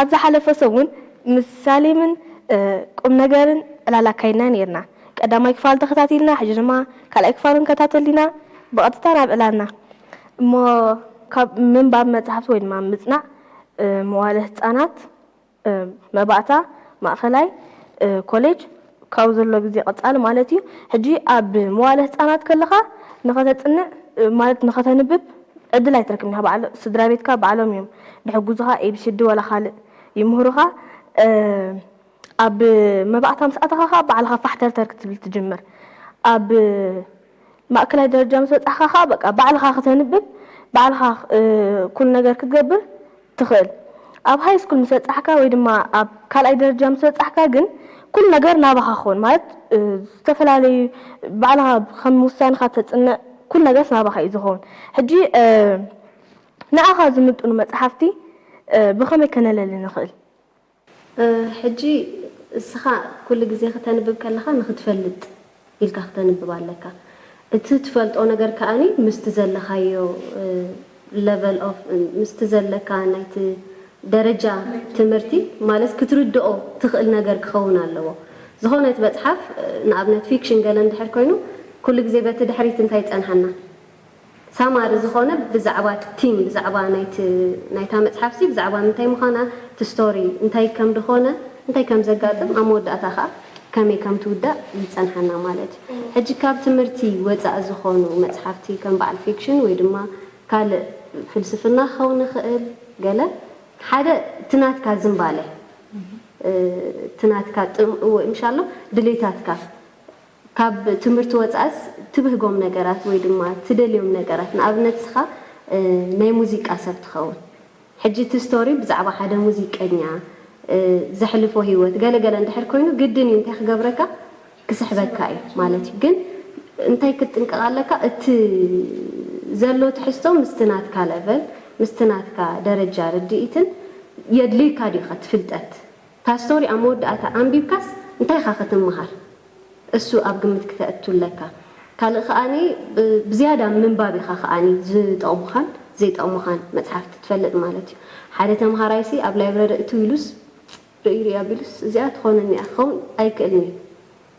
ኣብ ዝሓለፈ ሰሙን ምስ ሳሌምን ቁምነገርን ዕላል ኣካይድና ኔርና። ቀዳማይ ክፋል ተኸታቲልና ሕጂ ድማ ካልኣይ ክፋል ክንከታተል ኢና። ብቐጥታ ናብ ዕላልና እሞ ካብ ምንባብ መጻሕፍቲ ወይ ድማ ምጽናዕ መዋእለ ህጻናት፣ መባእታ፣ ማእከላይ ኮሌጅ፣ ካብ ዘሎ ግዜ ቀጻሊ ማለት እዩ። ሕጂ ኣብ መዋእለ ህጻናት ከለኻ ንኸተጽንዕ ማለት ንኸተንብብ ዕድል ኣይትረክብን ኢኻ። በዓል ስድራቤትካ ባዕሎም እዮም ድሕግዙኻ ኤቢሲዲ ዋላ ካልእ ይምህሩኻ። ኣብ መባእታ ምስ ኣተኻ ከኣ ባዕልኻ ፋሕተርተር ክትብል ትጅምር። ኣብ ማእከላይ ደረጃ ምስ በጻሕካ ከኣ በቃ ባዕልኻ ክተንብብ ባዕልኻ ኩሉ ነገር ክትገብር ትኽእል። ኣብ ሃይስኩል ምስ በጻሕካ ወይ ድማ ኣብ ካልኣይ ደረጃ ምስ በጻሕካ ግን ኩሉ ነገር ናባኻ ክኸውን ማለት ዝተፈላለዩ ባዕልኻ ከም ውሳንኻ ተጽንዕ ኩሉ ነገርስ ናባኻ እዩ ዝኸውን። ሕጂ ንኣኻ ዝምጥኑ መጽሓፍቲ ብኸመይ ከነለሊ ንኽእል? ሕጂ እስኻ ኩሉ ግዜ ክተንብብ ከለኻ ንኽትፈልጥ ኢልካ ክተንብብ ኣለካ እቲ ትፈልጦ ነገር ከኣ ምስቲ ዘለኻዮ ለቨል ኦፍ ምስቲ ዘለካ ናይቲ ደረጃ ትምህርቲ ማለት ክትርድኦ ትኽእል ነገር ክኸውን ኣለዎ ዝኾነት መጽሓፍ ንኣብነት ፊክሽን ገለ እንድሕር ኮይኑ ኩሉ ግዜ በቲ ድሕሪት እንታይ ይጸንሓና ሳማሪ ዝኮነ ብዛዕባ እቲ ቲም ብዛዕባ ናይቲ ናይታ መጽሓፍሲ ብዛዕባ ምንታይ ምዃና እቲ ስቶሪ እንታይ ከም ድኮነ እንታይ ከም ዘጋጥም ኣብ መወዳእታ ከኣ ከመይ ከም ትውዳእ ይጸንሓና ማለት እዩ ሕጂ ካብ ትምህርቲ ወጻኢ ዝኮኑ መጽሓፍቲ ከም በዓል ፊክሽን ወይ ድማ ካልእ ፍልስፍና ክከውን ይክእል ገለ ሓደ እቲ ናትካ ዝምባለ እቲ ናትካ ጥም እወ ምሻሎ ድሌታትካ ካብ ትምህርቲ ወጻእስ ትብህጎም ነገራት ወይ ድማ ትደልዮም ነገራት ንኣብነት እስኻ ናይ ሙዚቃ ሰብ ትኸውን ሕጂ እቲ ስቶሪ ብዛዕባ ሓደ ሙዚቀኛ ዘሕልፎ ሂወት ገለ ገለ እንድሕር ኮይኑ ግድን እዩ እንታይ ክገብረካ ክስሕበካ እዩ ማለት እዩ ግን እንታይ ክትጥንቀቕ ኣለካ እቲ ዘሎ ትሕዝቶ ምስቲ ናትካ ለቨል ምስቲ ናትካ ደረጃ ርድኢትን የድልዩካ ድዩኸ እቲ ፍልጠት እታ ስቶሪ ኣብ መወዳእታ ኣንቢብካስ እንታይ ኢኻ ክትምሃር እሱ ኣብ ግምት ክተእቱ ኣለካ ካልእ ከኣኒ ብዝያዳ ኣብ ምንባብ ኢኻ ከኣኒ ዝጠቕሙኻን ዘይጠቕሙኻን መጽሓፍቲ ትፈልጥ ማለት እዩ ሓደ ተምሃራይሲ ኣብ ላይብረሪ እትው ኢሉስ ርእይ ርእይ ኣቢሉስ እዚኣ ትኾነኒ እያ ክኸውን ኣይክእልን እዩ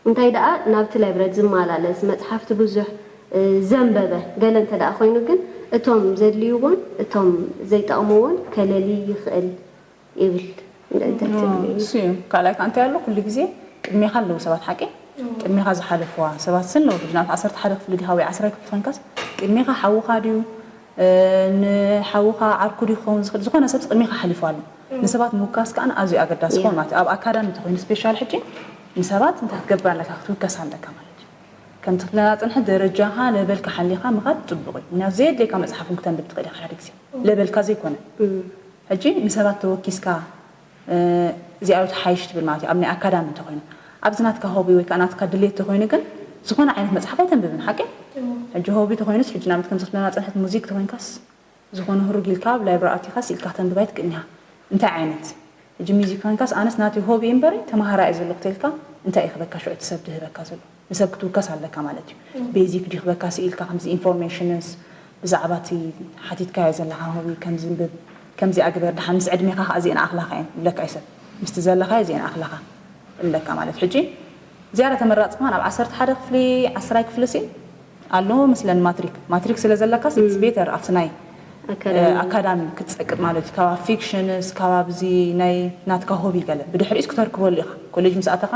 እንታይ ደኣ ናብቲ ላይብረሪ ዝማላለስ መጽሓፍቲ ብዙሕ ዘንበበ ገለ እንተ ደኣ ኮይኑ ግን እቶም ዘድልይዎን እቶም ዘይጠቕምዎን ከለልይ ይኽእል ይብል ምእንቲ ትብሊ። ንሱ እዩ ካልኣይ ከኣ እንታይ ኣሎ ኩሉ ግዜ ቅድሜኻ ኣለዉ ሰባት ሓቂ ቅድሜኻ ዝሓለፍዋ ሰባት ስን ኣለዉ ብናት ዓሰርተ ሓደ ክፍሊ ዲኻ ወይ ዓስራይ ክፍሊ ኮንካስ ቅድሜኻ ሓውኻ ድዩ ንሓውኻ ዓርኩ ድዩ ክኸውን ዝኽእል ዝኾነ ሰብ ቅድሜኻ ሓሊፉ ኣሎ ንሰባት ምውካስ ከኣ ኣዝዩ ኣገዳሲ ክኸውን ማለት ኣብ ኣካዳሚ እንተኮይኑ ስፔሻል ሕጂ ንሰባት እንታይ ክትገብር ኣለካ ክትውከስ ኣለካ ማለት ከምቲ ክለና ፅንሐ ደረጃኻ ለበልካ ሓሊኻ ምኻድ ፅቡቕ እዩ ምክንያቱ ዘየድልየካ መፅሓፍ እውን ክተንብብ ትኽእል ኢኻ ሓደ ግዜ ለበልካ ዘይኮነ ሕጂ ንሰባት ተወኪስካ እዚኣዮ ትሓይሽ ትብል ማለት እዩ ኣብ ናይ ኣካዳሚ እንተኾይኑ። ኣብዚ ናትካ ሆቢ ወይ ከኣ ናትካ ድሌት ተኾይኑ ግን ዝኾነ ዓይነት መጽሓፍ ኣይተንብብን ሓቂ? ሕጂ ሆቢ ተኾይኑስ ሕጂ ንኣብነት ከምዚ ክትብለና ዝጸንሐት ሙዚክ ተኾይንካስ ዝኾነ ህሩግ ኢልካ ኣብ ላይብረሪ ኣቲኻ ስኢልካ ክተንብብ ኣይትክእልን ኢኻ እንታይ ዓይነት ሕጂ ሙዚክ ኮንካስ ኣነስ ናተይ ሆቢ እዩ እምበሪ ተማሃራይ እየ ዘለኹ ተልካ እንታይ እዩ ክበካ ሽዑ እቲ ሰብ ድህበካ ዘሎ? ንሰብ ክትውከስ ኣለካ ማለት እዩ ቤዚክ ድዩ ክበካ ስኢልካ ከምዚ ኢንፎርሜሽንስ ብዛዕባ እቲ ሓቲትካዮ ዘለካ ሆቢ ከም ዝንብብ ከምዚኣ ግበር ድሓን ምስ ዕድሜካ ከኣ እዚኤን ኣክላካ እየን እብለካ እዩ ሰብ ምስቲ ዘለካዮ እዚኤን ኣክላካ እብለካ ማለት ሕጂ ዝያዳ ተመራጺ ከማን ኣብ ዓሰርተ ሓደ ክፍሊ ዓስራይ ክፍሊሲ ኣሎ መስለን ማትሪክ ማትሪክ ስለ ዘለካስ ኢትስ ቤተር ኣብቲ ናይ ኣካዳሚ ክትጸቅጥ ማለት እዩ ካብ ፊክሽንስ ካብ ኣብዚ ናይ ናትካ ሆቢ ገለ ብድሕሪኡስ ክተርክበሉ ኢካ ኮሌጅ ምስ ኣተካ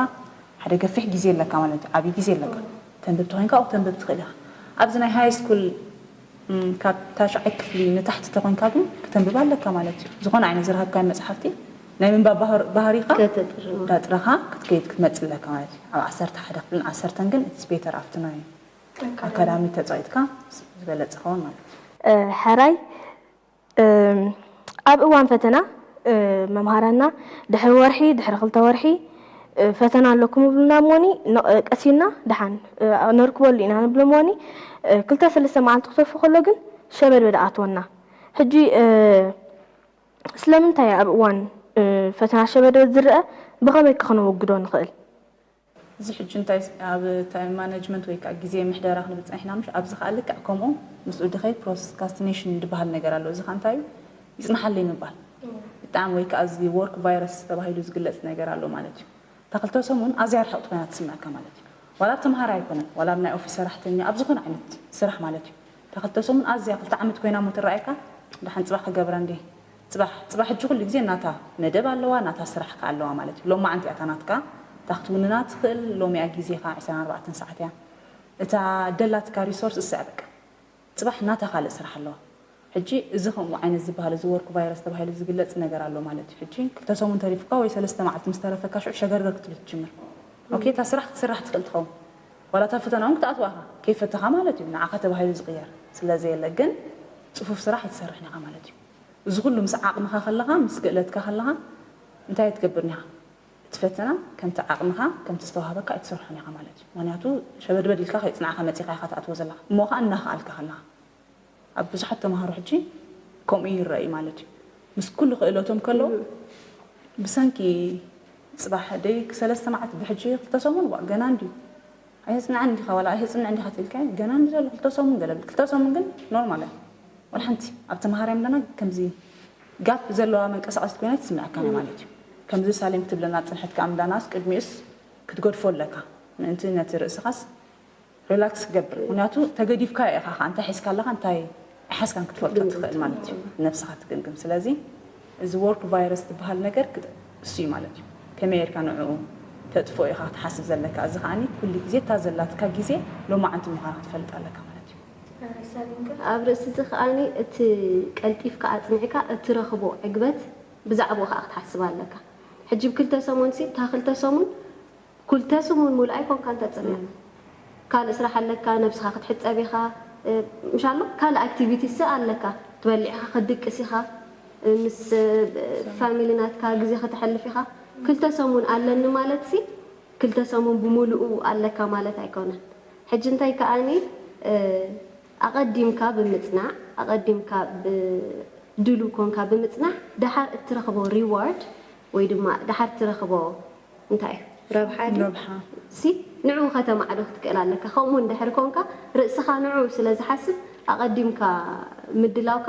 ሓደ ገፊሕ ግዜ ኣለካ ማለት እዩ ዓቢ ግዜ ኣለካ ተንብብ ተኮይንካ ኦክ ተንብብ ትክእል ኢካ ኣብዚ ናይ ሃይ ስኩል ካብ ታሽዓይ ክፍሊ ንታሕቲ ተኮይንካ ግን ክተንብብ ኣለካ ማለት እዩ ዝኮነ ዓይነት ዝረከብካዮም መጽሓፍቲ ናይ ምንባብ ባህሪካ ዳጥረካ ክትከይድ ክትመጽእ ኣለካ ማለት እዩ ኣብ ዓሰርተ ሓደ ክፍልን ዓሰርተን ግን ኢትስ ቤተር ኣብቲ ናይ ኣካዳሚ ተጻዊትካ ዝበለጸ ይከውን ማለት እዩ። ሕራይ ኣብ እዋን ፈተና መምሃራንና ድሕሪ ወርሒ ድሕሪ ክልተ ወርሒ ፈተና ኣለኩም ይብሉና እሞኒ ቀስ ኢልና ደሓን ነርክበሉ ኢና ንብሎም እሞኒ ክልተ ሰለስተ መዓልቲ ክተርፎ ከሎ ግን ሸበድበድ ኣኣትወና ሕጂ ስለምንታይ ኣብ እዋን ፈተና ሸበድበድ ዝረኣ ብኸመይ ከ ክነወግዶ ንኽእል? እዚ ሕጂ እንታይ ኣብ ታይም ማነጅመንት ወይ ከኣ ግዜ ምሕደራ ክንብል ጸኒሕና ምሽ ኣብዚ ከኣ ልክዕ ከምኡ ምስኡ ድከይ ፕሮስካስቲነሽን ድበሃል ነገር ኣሎ እዚ ከኣ እንታይ እዩ ይጽንሓለይ ምባል ብጣዕሚ ወይ ከኣ እዚ ዎርክ ቫይረስ ተባሂሉ ዝግለጽ ነገር ኣሎ ማለት እዩ እታ ክልተ ሰሙን ኣዝያ ርሕቕቲ ኮይና ትስምዐካ ማለት እዩ ዋላ ኣብ ተመሃራይ ኣይኮነን ዋላ ኣብ ናይ ኦፊስ ሰራሕተኛ ኣብ ዝኾነ ዓይነት ስራሕ ማለት እዩ እታ ክልተ ሰሙን ኣዝያ ክልተ ዓመት ኮይና እሞ ትረኣየካ ደሓን ጽባሕ ክገብራ እንድየ ጽባሕ ጽባሕ ሕጂ ኩሉ ግዜ ናታ መደብ ኣለዋ ናታ ስራሕ ከኣ ኣለዋ ማለት እዩ ሎማዓንቲ እያ እታ ናትካ እታ ክትውንና ትክእል ሎሚ እያ ግዜካ ዕስራን ኣርባዕተን ሳዓት እያ እታ ደላትካ ሪሶርስ እሳ እያ በቃ ጽባሕ ናታ ካልእ ስራሕ ኣለዋ ሕጂ እዚ ከምኡ ዓይነት ዝብሃል እዚ ወርክ ቫይረስ ተባሂሉ ዝግለጽ ነገር ኣሎ ማለት እዩ ሕጂ ክልተ ሰሙን ተሪፉካ ወይ ሰለስተ መዓልቲ ምስ ተረፈካ ሽዑ ሸገርገር ክትብል ትጅምር ኦኬ እታ ስራሕ ክትስራሕ ትክእል ትከውን ዋላ እታ ፈተና ውን ክትኣትዋ ኢካ ከይፈተካ ማለት እዩ ንዓካ ተባሂሉ ዝቅየር ስለ ዘየለ ግን ጽፉፍ ስራሕ ኣይትሰርሕን ኢካ ማለት እዩ እዚ ኩሉ ምስ ዓቅምኻ ከለኻ ምስ ክእለትካ ከለኻ እንታይ ኣይትገብርን ኢኻ እቲ ፈተና ከምቲ ዓቅምኻ ከምቲ ዝተዋሃበካ ኣይትሰርሖን ኢኻ ማለት እዩ ምክንያቱ ሸበድበድ ኢልካ ከይጽናዕካ መጺኻ ኢኻ ትኣትዎ ዘለኻ እሞ ከኣ እናኸኣልካ ከለኻ ኣብ ብዙሓት ተማሃሮ ሕጂ ከምኡ ይረኣ እዩ ማለት እዩ ምስ ኩሉ ክእለቶም ከለዉ ብሰንኪ ጽባሕ ደይ ሰለስተ መዓልቲ ብሕጂ ክልተ ሰሙን ዋእ ገና እንድዩ ኣይተጽንዓን እንዲኻ ዋላ ኣይተጽንዕ እንዲኻ ትብልካ ኢዩ ገና ንደለ ክልተ ሰሙን ገለ ብል ክልተ ሰሙን ግን ኖርማል ኢያ ዋላ ሓንቲ ኣብ ተማሃራይ ምለና ከምዚ ጋፕ ዘለዋ መንቀሳቐሲት ኮይና ኣይትስምዓካን ኢያ ማለት ኢዩ ከምዚ ሳሌም ክትብለና ዝጸንሐት ከኣ ምለናስ ቅድሚኡስ ክትገድፎ ኣለካ ምእንቲ ነቲ ርእስኻስ ሪላክስ ክገብር ምኽንያቱ ተገዲፍካዮ ኢኻ ከኣ እንታይ ሒዝካ ኣለኻ እንታይ ሓዝካን ክትፈልጦ ትኽእል ማለት እዩ ነብስኻ ትግምግም ስለዚ እዚ ወርክ ቫይረስ ትብሃል ነገር እሱ እዩ ማለት እዩ ከመይ ጌርካ ንዕኡ ተጥፍኦ ኢኻ ክትሓስብ ዘለካ እዚ ከዓኒ ኩሉ ግዜ እታ ዘላትካ ግዜ ሎማዓንቲ ምዃና ክትፈልጥ ኣለካ ማለት እዩ ኣብ ርእሲ እዚ ከዓኒ እቲ ቀልጢፍካ ኣጽኒዕካ እትረኽቦ ዕግበት ብዛዕብኡ ከኣ ክትሓስብ ኣለካ ሕጂ ብ ክልተ ሰሙን ሲ እታ ክልተ ሰሙን ኩልተ ስሙን ሙሉእ ኣይኮንካን ተጽምም ካልእ ስራሕ ኣለካ ነብስካ ክትሕጸብ ኢካ ምሻ ኣላ ካልእ ኣክቲቪቲስሰ ኣለካ ትበልዕ ኢካ ክትድቅስ ኢካ ምስ ፋሚሊ ናትካ ግዜ ከተሕልፍ ኢካ ክልተ ሰሙን ኣለኒ ማለትሲ ክልተ ሰሙን ብሙሉኡ ኣለካ ማለት ኣይኮነን ሕጂ እንታይ ከኣኒ ኣቀዲምካ ብምጽናዕ ኣቀዲምካ ድሉው ኮንካ ብምጽናሕ ደሓር እትረክቦ ሪዋርድ ወይ ድማ ደሓር እትረክቦ እንታይ እዩ ረብሓ ግን ረብሓ። ሲ ንዕኡ ከተማዕዶ ክትክእል ኣለካ ከምኡ እንድሕሪ ኮንካ ርእስኻ ንዕኡ ስለ ዝሓስብ ኣቀዲምካ ምድላውካ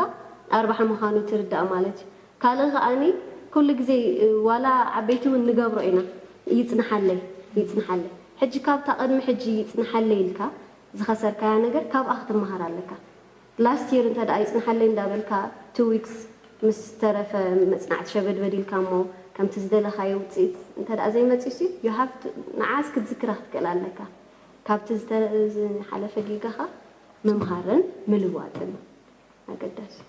ኣርባሒ ምኻኑ ትርዳእ ማለት እዩ ካልእ ከኣኒ ኩሉ ግዜ ዋላ ዓበይቲ ውን ንገብሮ ኢና ይጽንሓለይ ይጽንሓለይ ሕጂ ካብታ ቅድሚ ሕጂ ይጽንሓለይ ኢልካ ዝኸሰርካያ ነገር ካብኣ ክትማሃር ኣለካ Last year እንተ ደኣ ይጽንሓለይ እንዳ በልካ two weeks ምስ ተረፈ መጽናዕቲ ሸበድበድ ኢልካ እሞ ከምቲ ዝደለኻዮ ውጽኢት እንተ ደኣ ዘይመጺኡሲ you have to ንዓኣስ ክትዝክራ ክትክእል ኣለካ። ካብቲ ዝሓለፈ ጌጋኻ ምምሃርን ምልዋጥን ኣገዳሲ እዩ።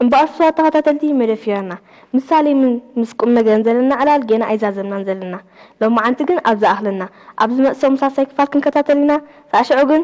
እምበኣር ስዋት ተኸታተልቲ መደፊርና ምስ ሳሌምን ምስ ቁምነገርን ዘለና ዕላል ጌና ኣይዛዘምናን ዘለና ሎማዓንቲ ግን ኣብ ዝኣኽለና ኣብ ዝመጽእ ሰሙን ሳልሳይ ክፋል ክንከታተል ኢና ሳዕ ሽዑ ግን